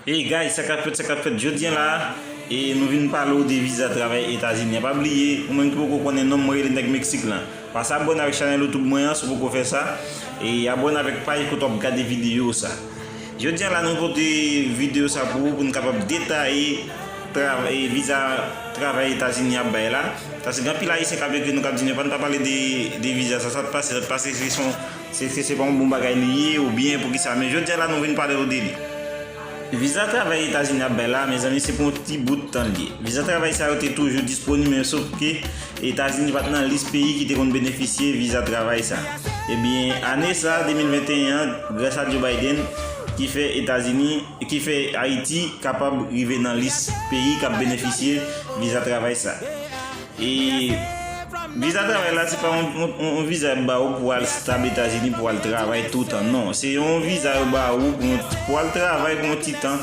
Hey guys sa kap fèt sa kap fèt jodi an la e nou vin pale w de viza travay etazini an pa bliye ou menm ki poko konnen non mwen rele nèg meksik lan pase abòne avèk chanèl youtube mwen an si w poko fè sa e abòne avèk paj kote wap gade video sa Jodia la nou pote video sa pou ou pou nou kapab detaye travay viza travay etazini ap bay la paske gen anpil ayisyen kap ekri nou kap di nou epa pa pale de viza sa sa t pase sa t pase se son eske se pa yon bon bagay li ye ou byen pou kisa men jodia la nou vin pale ou de li. Viza travay etazini ap bay la mezanmi se pou yon ti bout tan li ye viza travay sa yo te toujou disponib men sof ke Etazini pa t nan lis peyi ki te konn benefisye viza travay sa. Ebyen, ane sa, 2021 an, grasa Joe Biden, ki fè Etazini, ki fè Ayiti kapab rive nan lis peyi k ap benefisye viza travay sa. E, viza travay la se pa yon viza y ap ba ou pou al stab Etazini pou al travay toutan. Non, se yon viza yo ba ou pou al travay pou yon ti tan.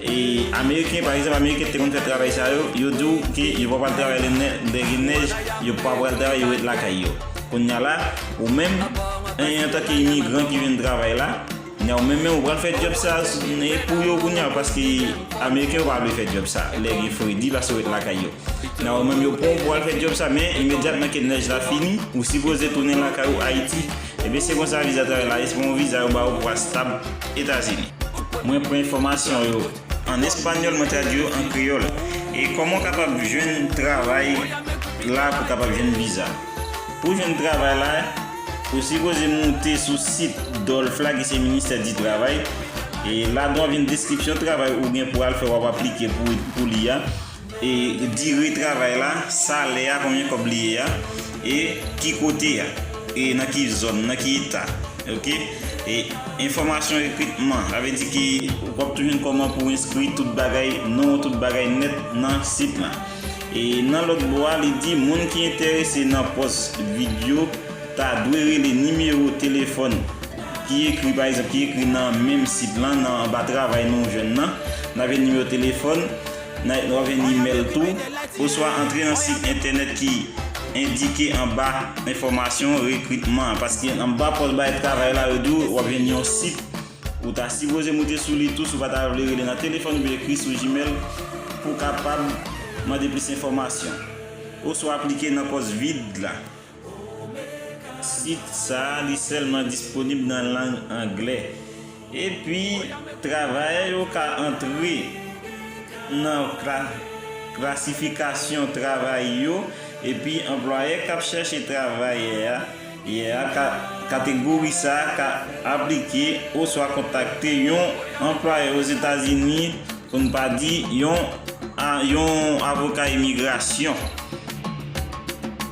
E ameriken pa egzanp ameriken te konn fè travay sa yo, yo di w ke yo pa pral travay lè nè lè gen nèj, yo pa pral travay yo ret lakay yo. Kounya la ou menm en antanke imigran ki vin travay la, kounya ou menm menm ou pral fè djòb sa pou yo kounya paske ameriken yo pa vle fè djòb sa lè gen fredi paske yo ret lakay yo. Kounya ou menm yo pran w pou w al fè djòb sa men imedyatman ke nèj la fini ou sipoze tounen lakay ou Ayiti Ebyen se konsa viza travay la ye se pa yon viza yo ba ou pou astab etazini. Mwen pran enfòmasyon yo an espanyòl mwen tradwi yo an kreyòl e kòman ou kapab jwenn travay la pou kapab jwenn viza pou jwenn travay la ou sipoze moute sou sit dolf la ki se ministè di travay e ladan wap jwenn deskripsyon travay ou gen pou al fè wap aplike pou li a. E dire travay la, salè a konbyen kòb li ye a, e ki kote a, e nan ki zòn, nan ki eta. Ok. E enfòmasyon rekritman, sa vle di ke w ap tou jwenn kòman pou w enskri tout bagay, non w tout bagay nèt nan sit lan. E nan lòt bò a li di moun ki enterese nan pòs vid yo ta dwe rele nimewo telefòn ki ekri pa egzanp ki ekri nan menm sit lan nan anba travay nou jwenn nan. N ap jwenn nimewo telefòn Night Love and Imèl tou, oswa antre nan sit entènèt ki endike anba enfòmasyon rekritman an, paske anba pòs bay travay la yo di w w ap jwenn yon sit ou ta sipoze moute sou li tou si w pa ta vle rele nan telefòn oubyen ekri sou Gmail pou w kapab mande plis enfòmasyon oswa aplike nan pòs vid la. Sit sa a li sèlman disponib nan lang angle, epi travayè yo ka antre nan klasifikasyon travay yo epi anplwayè k ap chèche travayè a ka kategori sa a ka aplike oswa kontakte yon anplwayè Ozetazini, pou n pa di yon avoka imigrasyon.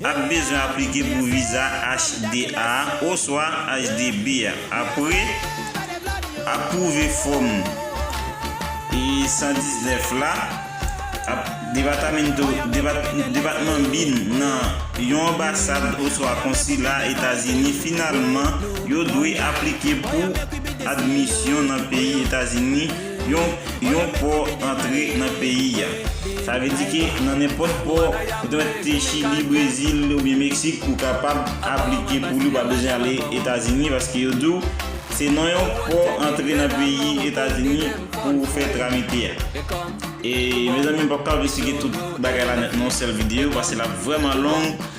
Ap bezwen aplike pou viza HD a oswa HDB a. Apre ap pwouve fòm 119 la, ap Departamento, Depatman Bin, nan yon anbasad oswa konsila Etazini finalman yo dwe aplike pou admisyon nan peyi Etazini, yon pò antre nan peyi a. Sa vle di ke nan nenpòt pò, petèt te Chili, Brezil oubyen Meksik, ou kapab aplike pou li, ou pa bezwen ale Etazini paske yo di w se nan yon pò antre nan peyi Etazini pou w fè tramite a. E mezanmi m pap ka vle esplike tout bagay la nan yon sèl videyo paske l ap vrèman long.